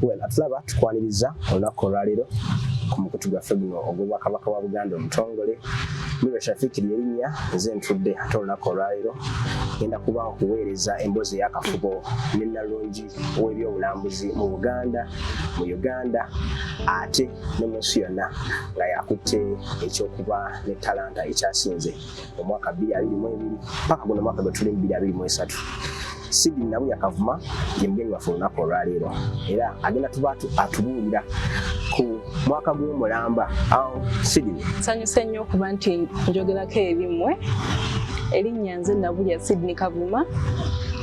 well atulaba tukwaniriza olunaku olwaleero ku mukutu gwaffe guno ogw'obwakabaka wa buganda omutongole miro shafikiri erinnya nze ntudde ate olunaku olwaleero genda kuba okuweereza emboozi eyakafubo ne nalungi w'ebyobulambuzi mu buganda mu uganda ate ne munsi yonna nga yakutte ekyokuba ne talanta ekyasinze omwaka bbiri abiri mu ebiri paka guno omwaka gwe tuli bbiri abiri mu esatu sidi nabu yakavuma ye mugenyi waffe olunaku olwaleero era agenda tuba atubuulira ku mwaka gw'omulamba awo sidi nsanyuse nnyo okuba nti njogerako erimwe erinnya nze nabulya sidney kavuma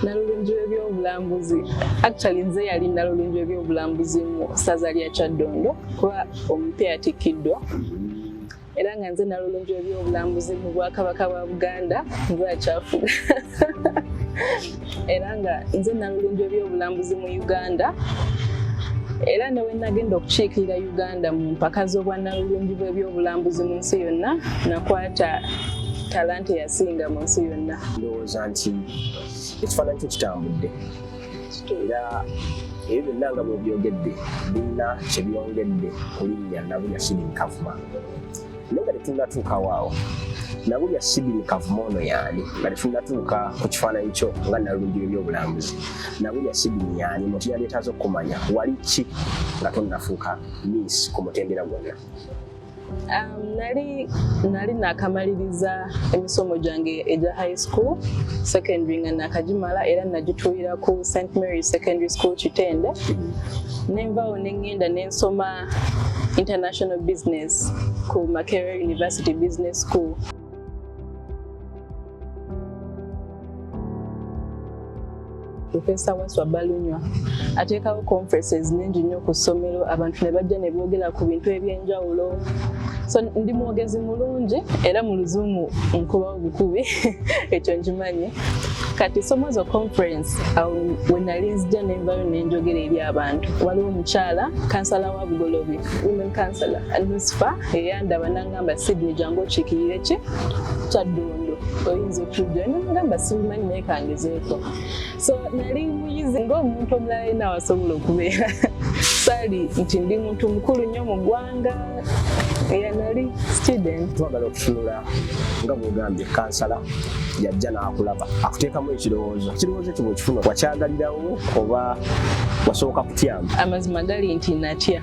nalulungi w'ebyobulambuzi actually nze yali nalulungi w'ebyobulambuzi mu ssaza lya kyaddondo kuba omupya yatikkiddwa era nga nze nalulungi ebyobulambuzi mu bwakabaka bwa buganda nzakyafu era nga nze nalulungi ebyobulambuzi mu uganda era ne wenagenda okukiikirira uganda mu mpaka z'obwanalulungi bw'ebyobulambuzi mu nsi yonna nakwata talanta eyasinga mu nsi yonna ndowooza nti ekifaananyi kyo kitambudde era ebyo byonna nga bwebyogedde birina kyebyongedde kulinnya nabulya sidini kavuma naye nga tetunatuukawo awo nabulya sidini kavuma ono yaani nga tetunatuuka ku kifaananyi kyo nga nalungi ebyobulambuzi nabulya sidini yaani muntu yaleetaaza okukumanya wali ki nga tonafuuka miisi ku mutendera gwonna Um, nali nali nakamaliriza emisomo gyange egya high school secondary nga nakagimala era nagituulira ku st mary secondary school kitende nenvawo nengenda nensoma international business ku makerere university business school Profesa Waswa Balunywa ateekawo conferences nyingi nnyo ku ssomero abantu ne bajja ne boogera ku bintu eby'enjawulo so ndi mwogezi mulungi era mu luzungu nkubawo bukubi ekyo nkimanyi kati somo zo conference awo we nali nzija nenvayo nenjogera eri abantu waliwo omukyala kansala wa bugolobi women kansala nusifa eyandaba gamba sidi ejangu okikirire ki kyaddondo oyinza okujja nagamba sibimanyi naye kangezeeko so nali muyizi ngaomuntu omulala yena wasobola okubeera sali nti ndi muntu mukulu nnyo mu ggwanga eyanali student twagala okutunula nga bwogambye kansala yajja n'akulaba akuteekamu ekirowoozo ekirowoozo ekyo bwekifuna wakyagalirawo oba wasooka kutyamu amazima gali nti natya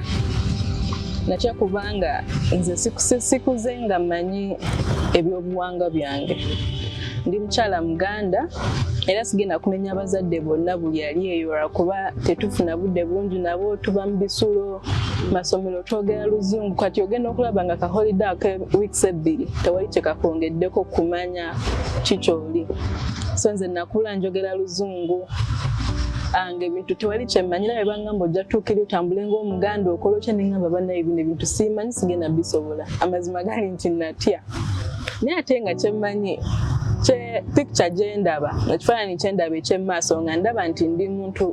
natya kubanga nze sikuze nga manyi ebyobuwanga byange ndi mukyala muganda era sigenda kumenya abazadde bonna buli ali eyo lwakuba tetufuna budde bungi nabo tuba mu bisulo masomero twogera luzungu kati ogenda okulaba nga kaholide ake weeks ebbiri tewali kyekakwongeddeko kumanya kikyoli so nze nakula njogera luzungu ange bintu tewali kyemanyira ngamba ojja tuukira otambule ng'omuganda okola otya ne ngamba banaye bino ebintu siimanyi sigenda bisobola amazima gali nti natya naye ate nga kyemmanyi kye picture gye ndaba nga kifaananyi kye ndaba eky'emumaaso nga ndaba nti ndi muntu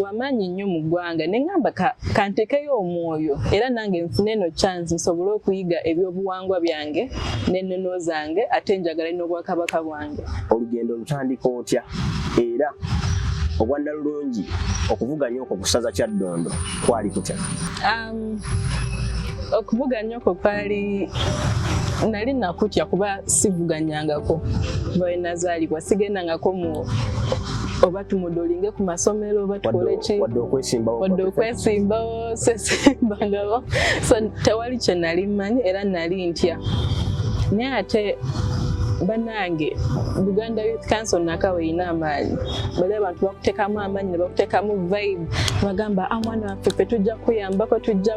wamaanyi nnyo mu ggwanga ne ngamba kantekeyo omwoyo era nange nfune eno chance nsobole okuyiga ebyobuwangwa byange n'ennono zange ate njagala n'obwakabaka bwange olugendo lutandika otya era obwannalulungi okuvuganya okwo kusaza kyaddondo kwali kutya um, okuvuganya okwo kwali nali nakutya kuba sivuganyangako bawenazaalibwa sigendangako mu oba tumudolinge ku masomero oba tukole ki wadde okwesimbawo sesembangabo so tewali kye nali mmanyi era nali ntya naye ate banange buganda youth council naka weyina amaanyi bali abantu bakutekamu amaanyi nebakutekamu vibe bagamba amwana ah, waffe fe tujja kuyambako tujja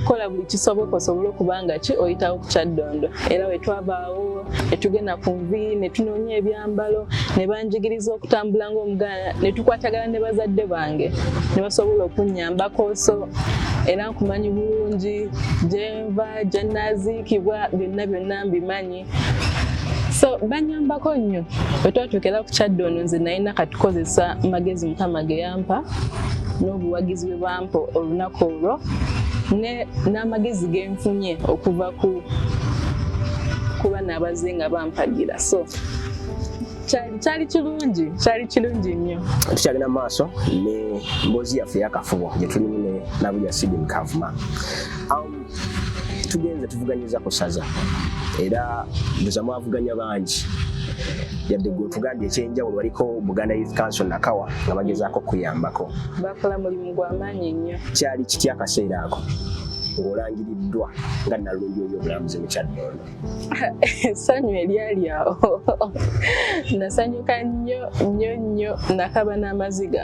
kola buli kisoboka osobole okubanga ki oyitawo ku kyaddondo era wetwabaawo etugenda ku nvi netunoonya ebyambalo nebanjigiriza okutambula ngaomuganda ne tukwatagana ne bazadde bange ne basobola okunnyambako so era nkumanyi bulungi gyenva gyennaziikibwa byonna byonna mbimanyi so banyambako nnyo bwe twatuukera ku kyadde ono nze nalina katukozesa magezi mukama ge yampa n'obuwagizi bwe bampa olunaku olwo n'amagezi ge nfunye okuva ku kuba naabaze nga bampagira so kyali kirungi kyali kirungi nnyo tukyagenda mu maaso ne mboozi yaffe eyakafubo gye tulimu ne nabulya sidin kavuma um, tugenze tuvuganyiza ku saza era buza mwavuganya bangi yadde gwe otugambye ekyenjawulo waliko buganda youth council nakawa nga bagezaako okuyambako bakola mulimu gwamaanyi nnyo kyali kitya akaseera ako ng'olangiriddwa nga nalungi oyo obulambuzi mukyadde ono essanyu eryali awo nasanyuka nnyo nnyo nnyo nakaba n'amaziga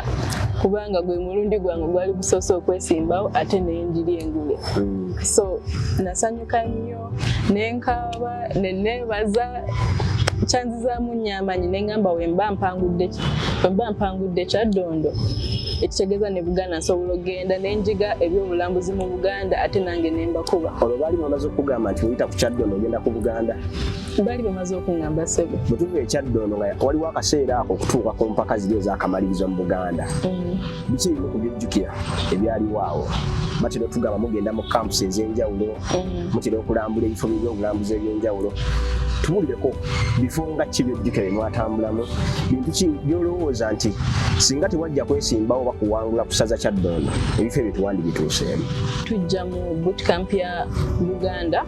kubanga gwe mulundi gwange gwali gusoose okwesimbawo ate nenjiri engule mm. so nasanyuka nnyo nenkaaba neneebaza kyanzizaamu nnyo amaanyi nengamba wemba mpangudde wemba mpangudde kyaddondo ekitegeeza ne buganda nsobola okugenda nenjiga ebyobulambuzi mu Buganda ate nange ne mbakuba. Olwo baali bamaze okugamba nti oyita ku Kyaddondo ogenda ku Buganda? Baali bamaze okungamba ssebo. Bwe tuva e Kyaddondo nga waliwo akaseera ako okutuuka ku mpaka ziri ez'akamalirizo mu Buganda. Mm. Biki ebimu ku byejjukira ebyaliwo awo? batera otugamba mugenda mu campusi ez'enjawulo mm. mutera okulambula ebifo by'ebyobulambuzi eby'enjawulo tubulireko bifo nga ki byojjuke bye mwatambulamu bintu ki byolowooza nti singa tewajja kwesimbawo oba kuwangula kusaza kyaddondo ebifo ebyo tewandi bituuseemu tujja mu bootcamp ya uganda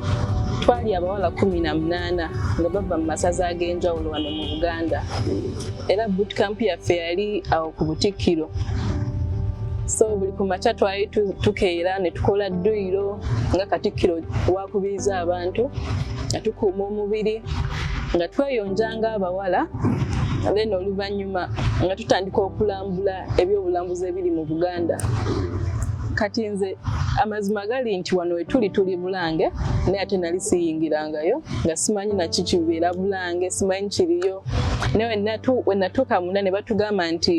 twali abawala kumi na munaana nga bava mu masaza ag'enjawulo wano mu buganda era bootcamp yaffe yali awo ku butikkiro so buli ku makya twali tukeera ne tukola dduyiro nga katikkiro wakubiriza abantu nga tukuuma omubiri nga tweyonja nga abawala then oluvannyuma nga tutandika okulambula ebyobulambuzi ebiri mu buganda kati nze amazima gali nti wano wetuli tuli bulange naye ate nali siyingirangayo nga simanyi naki kibeera bulange simanyi kiriyo naye wenatuuka munda ne batugamba nti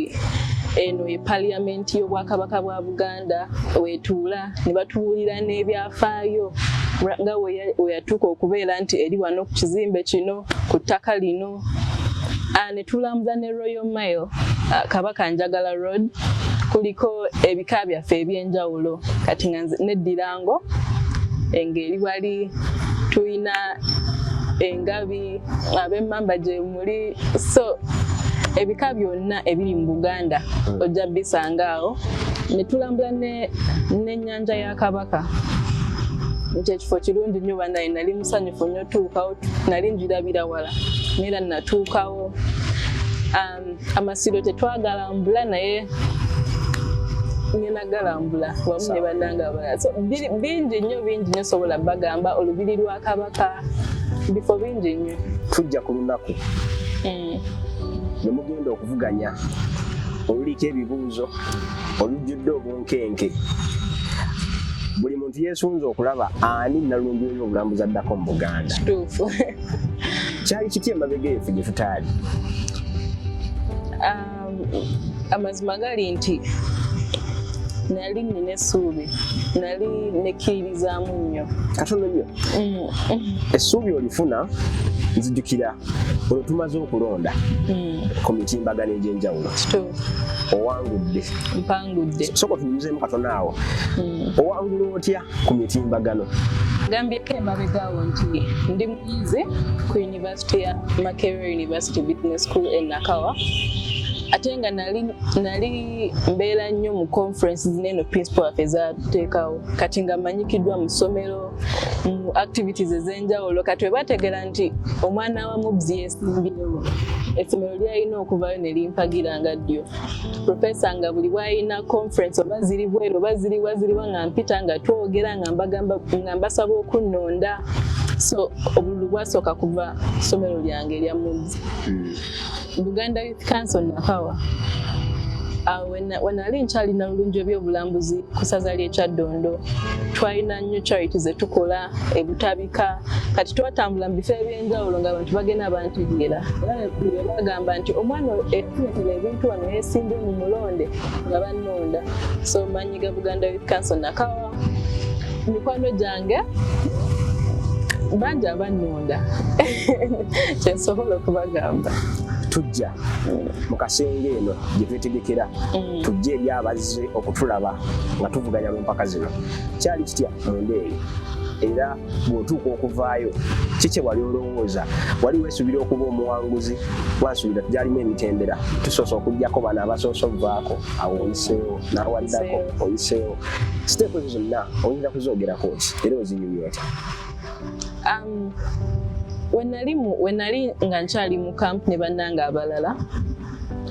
eno ye paliyamenti y'obwakabaka bwa buganda Uganda wetuula ne batubuulira n'ebyafaayo nga weyatuuka okubeera nti eri wano ku kizimbe kino ku ttaka lino ah, ne tulambuza ne Royal Mile ah, Kabaka Njagala Road kuliko ebika byaffe eby'enjawulo kati nga neddirango engeri wali tulina engabi ab'emmamba gyemu oli so ebika byonna ebiri mu buganda hmm. ojja bisanga awo netulambula nenyanja ya kabaka nti ekifo kirungi nnyo banaye nali musanyufu nnyo tuukawo nali njirabira wala naera natuukawo um, amasiro tetwagalambula naye ngenagalambula wamu ne bananga abalala bingi nnyo bingi nnyo sobola bagamba olubiri lwa kabaka bifo bingi nnyo tujja ku lunaku mm. ne mugenda okuvuganya oluliko ebibuuzo olujjudde obunkenke buli muntu yesunze okulaba ani nalumbi oyo obulambuzi addako mu buganda kyali kiti emabega efe gye tutaali ah. amazima gali nti nali nina essuubi nali nekkiririzaamu nnyo katono nnyo mm. essuubi olifuna nzijukira olwo tumaze okulonda mm. ku mitimbagano egy'enjawulo owangudde mpangudde soka tunyuzeemu katono awo mm. owangula otya ku mitimbagano gambyeko emabegawo nti ndi muyizi University ya Makerere University Business School e Nakawa ate nga nali nali mbeera nnyo mu conference zineeno principal waffe ezateekawo kati nga manyikiddwa mu ssomero mu activities ez'enjawulo kati we bategeera nti omwana wa mubzi yesimbyewo essomero lyalina okuvayo ne limpagira nga ddyo profesa nga buli bwalina conference oba ziri bweru oba ziriwa ziriwa nga mpita nga twogera nga mbagamba nga mbasaba okunnonda so obululu bwasooka kuva ssomero lyange erya muzi hmm. buganda youth council nakawa ah, wenali nkyalina bulungi ebyobulambuzi ku saza lyekyaddondo twalina nnyo charity zetukola ebutabi Ka, kati twatambula mu bifo eby'enjawulo nga abantu bagenda bantegeera era bagamba nti omwana etuletera ebintu wano yeesimbye mu mulonde nga bannonda so manyi ga buganda youth council nakawa mikwano gyange bangi abannonda kyensobola okubagamba tujja mu kasenge eno gye twetegekera mm. tujja eri abazze okutulaba nga tuvuganya mu mpaka zino kyali kitya munda eyo era bw'otuuka okuvaayo ki kye wali olowooza wali weesuubira okuba omuwanguzi wansuubira gyalimu emitendera tusoose okugyako bano abasoose ovaako awo oyiseewo n'awaliddako oyiseewo siteepu ezo zonna oyinza kuzoogerako ki era ozinyumya otya um, wenali nga nkyali mu kampuni bannanga abalala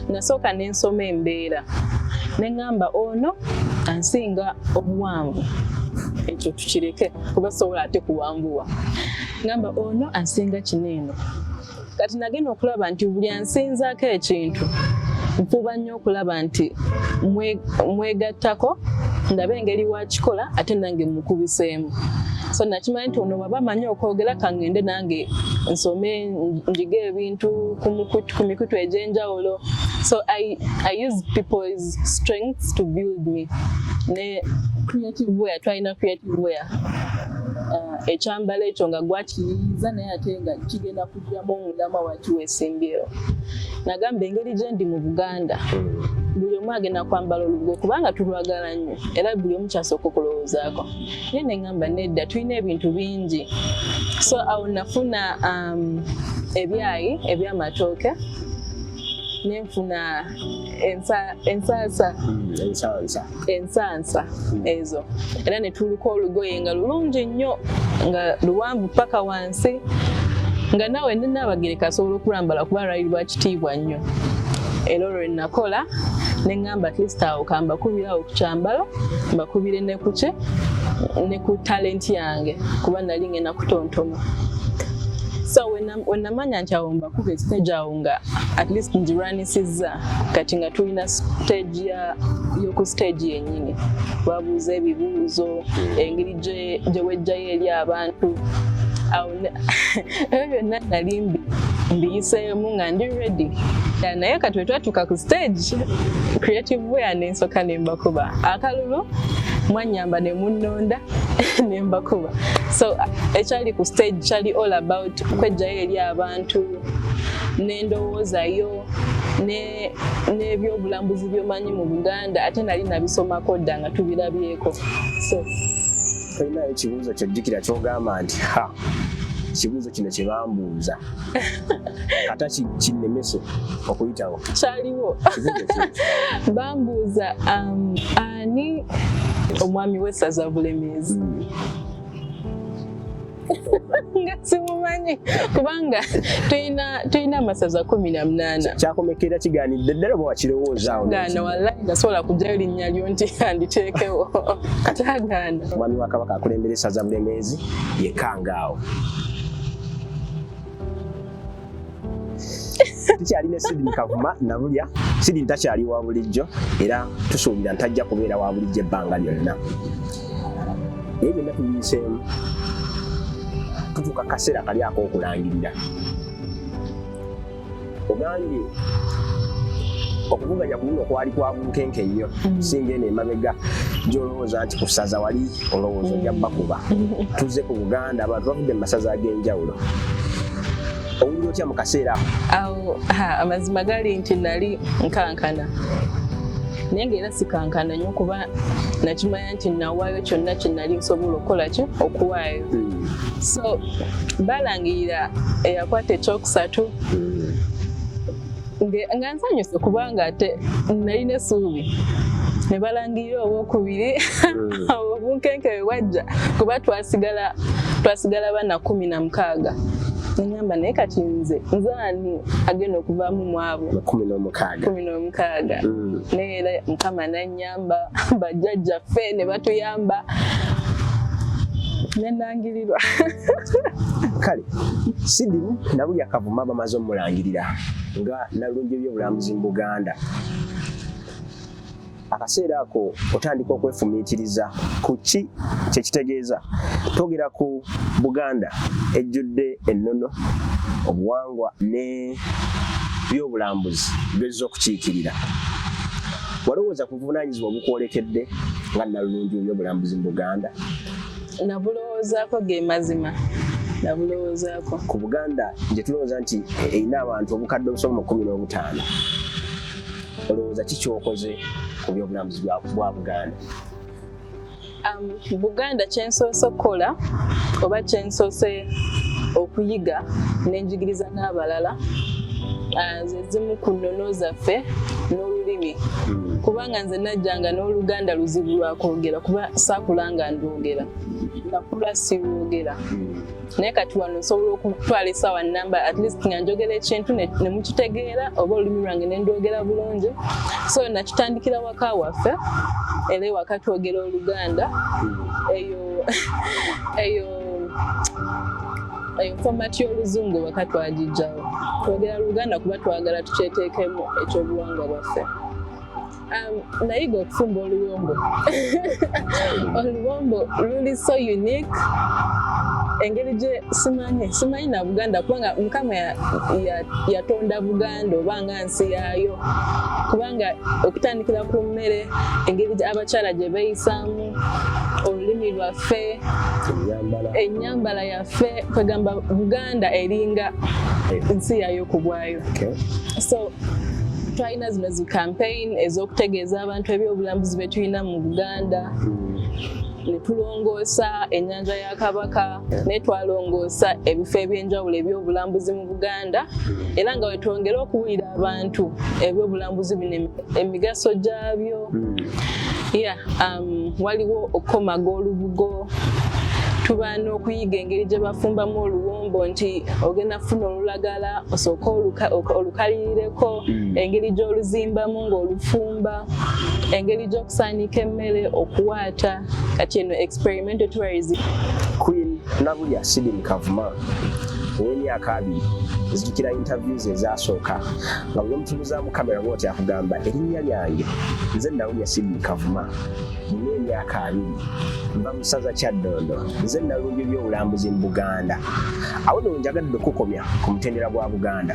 nasooka ne nsoma embeera ne ŋŋamba ono ansinga obuwanvu ekyo tukireke kuba sobola ate kuwanvuwa ŋamba ono ansinga kino eno kati nagenda okulaba nti buli ansinzaako ekintu nfuba nnyo okulaba nti mwegattako ndabe engeri wakikola ate nange mukubiseemu so nakimanya nti ono baba amanyi okwogera kangende nange nsome njiga ebintu ku mikutu egy'enjawulo so I, I use people's strengths to build me ne creative way twalina creative way uh, ekyambalo ekyo nga gwakiyiiza naye ate nga kigenda kujjamu omulama waki wesimbyewo nagamba engeri gyendi mu buganda buli omu agenda kwambala olugwe kubanga tulwagala nnyo era buli omu kyasooka okulowoozaako naye neŋamba nedda tulina ebintu bingi so awo nafuna um, ebyayi ebyamatooke nenfuna ensansa hmm, ensansa hmm. ezo era netuluka olugoye nga lulungi nnyo nga luwanvu paka wansi si nga naawe ndi Nnaabagereka asobola okulambala kuba lwali lwa kitiibwa nnyo era olwo lwe nakola ne ŋŋamba at least awo kambakubira awo ku kyambalo mbakubire ne ku ki ne ku talenti yange kuba nali ngenda kutontoma so wenamanya nti awo mbakuba esiteegi awo nga at least ngirwanisizza kati nga tulina siteegi yoku siteegi yennyini babuuza ebibuuzo hmm. engeri gye wejjayo eri abantu awo ebyo byonna nali mbi mbiyiseemu nga ndi ready naye kati wetwatuuka ku stage creative wea nensoka nembakuba akalulu mwanyamba nemunonda nembakuba so ekyali ku stage kyali all about kwejjayo eri abantu nendowoozayo n'ebyobulambuzi byomanyi mu buganda ate nali nabisomako dda nga tubirabyeko so tolinayo ekibuuzo kyojjukira kyogamba nti ha ekibuuzo kino kye bambuuza kata kinnemese okuyitawo kyaliwo bambuuza um, ani omwami w'essaza bulemeezi hmm. nga simumanyi kubanga tulina amasaza kumi na munaana kyakomekera kiganidde ddala oba wakirowoozaawogaana wallahi nasobola kujjayo linnya lyo nti anditeekewo kyagaana omwami wa kabaka akulembera esaza bulemeezi yekangaawo tukyali ne Sidini Kavuma Nabulya. Sidini takyali wa bulijjo era tusuubira ntajja kubeera wa bulijjo ebbanga lyonna. Ebyo byonna tubiyiseemu tutuuka kaseera kali ak'okulangirira. Ogambye okuvuganya ku luno kwali kwa bunkenke nnyo mm. singa eno emabega gyolowooza nti ku ssaza wali olowooza ojja mm. bakuba tuzze ku buganda abantu bavudde mu masaza ag'enjawulo owulira otya mu kaseera awo amazima gali nti nali nkankana naye nga era sikankana nyo kuba nakimanya nti nawaayo kyonna kyenali nsobola okukola ki okuwaayo hmm. so balangirira eyakwata ekyokusatu hmm. nga nsanyuse kubanga ate nalina essuubi ne balangirira owokubiri hmm. obunkenke bwe bwajja kuba twasigala twasigala bana kumi na mukaaga nengamba naye kati nze nze ani agenda okuvaamu mwabo kumi n'omukaaga hmm. naye era mukama nanya yamba bajjajja ffe ne batuyamba nenangirirwa kale sidi nabulya kavuma bamaze omulangirira nga nalungi ebyobulambuzi mu buganda akaseera ako otandika okwefumiitiriza ku ki kyekitegeeza twogera ku buganda ejjudde ennono obuwangwa ne byobulambuzi bezza okukiikirira Walowooza ku buvunaanyizibwa obukwolekedde nga nnalulungi mu by'obulambuzi mu Buganda? Nabulowoozaako ge mazima. Nabulowoozaako. Ku Buganda gye tulowooza nti erina abantu obukadde obusoba mu kkumi n'obutaano, olowooza ki kyokoze ku by'obulambuzi bwa Buganda? Um, Buganda kyensoose okukola oba kyensoose okuyiga nenjigiriza n'abalala uh, zezimu ku nnono zaffe n'olulimi hmm. kubanga nze najjanga n'oluganda luzibu lwakwogera kuba saakulanga ndwogera nakula siwogera hmm. naye kati wano nsobola okutwala esaawa namba at least nga njogera ekintu nemukitegeera oba olulimi lwange nendwogera bulungi so nakitandikira waka waffe era ewaka twogera oluganda eyo eyo eyo format y'oluzungu waka twagijjawo twogera luganda kuba twagala tukyeteekemu ekyobuwangwa bwaffe Um, nayiga okufumba oluwombo oluwombo luli so unique engeri gye simanyi simanyi na buganda kubanga mukama yatonda buganda oba nga nsi yaayo kubanga okutandikira ku mmere engeri abakyala gye beeyisaamu olulimi lwaffe ennyambala yaffe kwegamba buganda eringa nsi yaayo ku bwayo so na zino zi campaign ez'okutegeeza abantu ebyobulambuzi bye tulina mu buganda hmm. ne tulongoosa ennyanja ya kabaka ne twalongoosa ebifo eby'enjawulo ebyobulambuzi mu buganda hmm. era nga wetwongere okuwulira abantu ebyobulambuzi bino emigaso gyabyo hmm. ya um, waliwo okukomaga olubugo tuba n'okuyiga engeri gye bafumbamu oluwombo nti ogenda funa olulagala osooke olukaliyireko mm. engeri gy'oluzimbamu ng'olufumba engeri gy'okusaanika emmere okuwaata kati eno experimental tourism queen nabulya sidin kavuma ow'emyaka abiri nzijukira interviews ezasooka nga buli omutunuzamu kamera bwoti akugamba erinnya lyange nze nawulya sidin kavuma nina emyaka abiri nva mu ssaza kyaddondo nze nalungi byobulambuzi mu buganda awo no njagadde okukomya ku mutendera gwa buganda